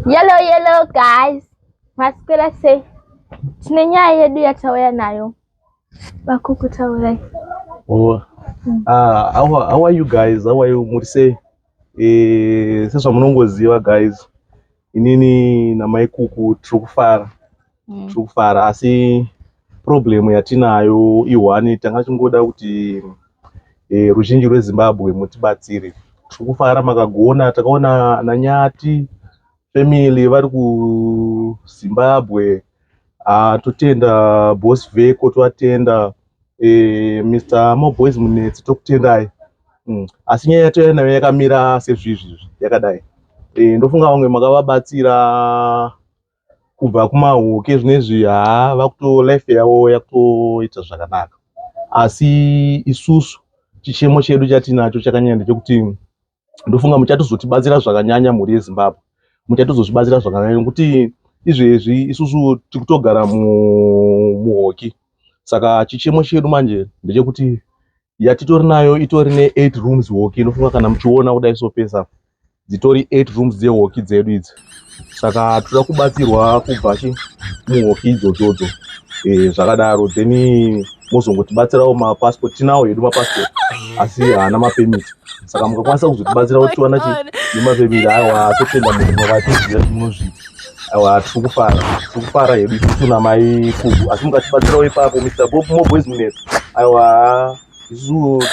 Yellow yellow guys, maswera sei? Tine nyaya yedu yatauya nayo vakuku taurai. Oh. Mm. Uh, how, how are you guys? How are you? Muri sei? Eh, sezvamunongoziva guys, inini namaikuku tiri kufara mm. tiri kufara asi problem yatinayo ihwani tanga tichingoda kuti e, ruzhinji rwezimbabwe mutibatsire tiri kufara makagona takaona nanyati family vari kuzimbabwe ah, totenda bos veko tovatenda e, eh, mr moboys munetsi tokutendai mm. asi nyaya yatouya nayo yakamira sezvizvizvi yakadai e, ndofunga vamwe makavabatsira kubva kumahuke zvinezvi haa vakuto life yavo yakutoita zvakanaka asi isusu chichemo chedu chatinacho chakanyanya ndechekuti ndofunga muchatozotibatsira zvakanyanya mhuri yezimbabwe muchatozozvibatsira zvakanyanya nekuti izvezvi isusu tiri kutogara muhoki saka chichemo chedu manje ndechekuti yatitori nayo itori ne eight rooms walk inofunga kana muchiona kudai so pesa dzitori eight rooms dze walk dzedu idzi saka toda kubatsirwa kubva chi muwalk idzodzodzo e, eh, zvakadaro then mozongotibatsirawo mapassport tinawo hedu mapassport asi haana mapemit saka mukakwanisa kuzotibatsira kutiwana chi nemapemit awa totenda munhu makatiziva zvimunozviita Awa tiri kufara, tiri kufara hedu isusu namai Kubu, asi mukatibatsirawo ipapo Mr. Bob Mo Boys Munepo. Awa isu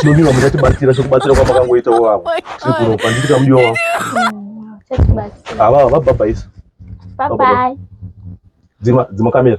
tinodiwa muchatibatsira sekubatsira kwamakangoitawo vavo sekuro panditi kamudiwa wavo ava vabhabhaisa dzima kamera